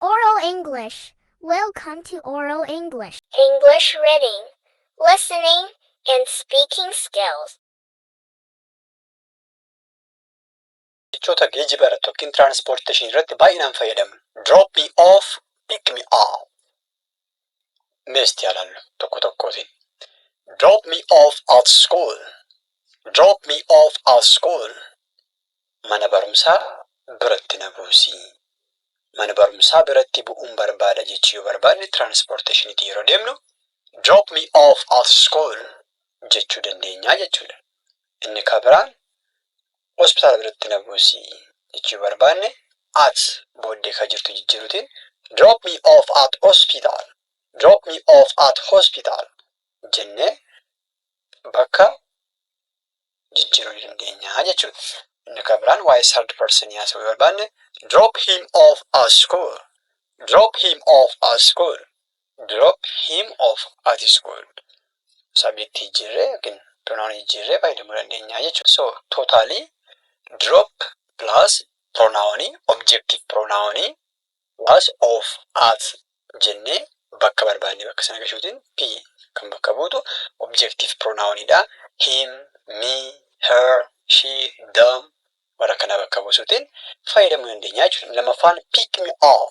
Oral English, Welcome to Oral English! English Reading, Listening, and Speaking Skills. Jechoota geejiba irratti ykn transportation irratti baay'inaan fayyadamnu. Drop me off, pick me up. mee itti yaalannu tokko tokkootiin. Drop me off at school. Drop me off at school. Mana barumsaa biratti na buusi. Mana barumsaa biratti bu'uun barbaada jechuu yoo barbaanne tiraanspoorteeshiniitiin yeroo deemnu drop me off at school jechuu dandeenyaa jechuudha. Inni kan biraan Hospitaala biratti na buusi jechuu barbaanne at booddee ka jirtu jijjiiruutiin drop me off at hospital, drop me off at hospital jennee bakka jijjiiruu ni dandeenya jechuudha. Inni ka biraan waa'ee third person haasa'uu yoo barbaanne drop him off at school, drop him off at school Drop him off at school. Subject jijjiirree yookiin pronoun jijjiirree fayyadamuu dandeenya jechuudha. So totally drop plus pronoun objective pronoun plus of at jennee bakka barbaanne bakka sana gashuutiin p kan bakka buutu objective pronoun dha. Him, me, her, she, them warra kanaa bakka buusuutiin fayyadamuu dandeenya jechuudha. Inni lammaffaan pick me up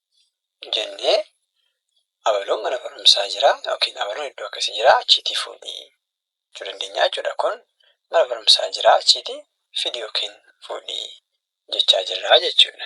jennee abaloon mana barumsaa jira yookiin abaloon iddoo akkasii jira achiitii fuudhi jechuu dandeenya jechuudha. Kun mana barumsaa jira achiitii fidi yookiin fuudhi jechaa jirra jechuudha.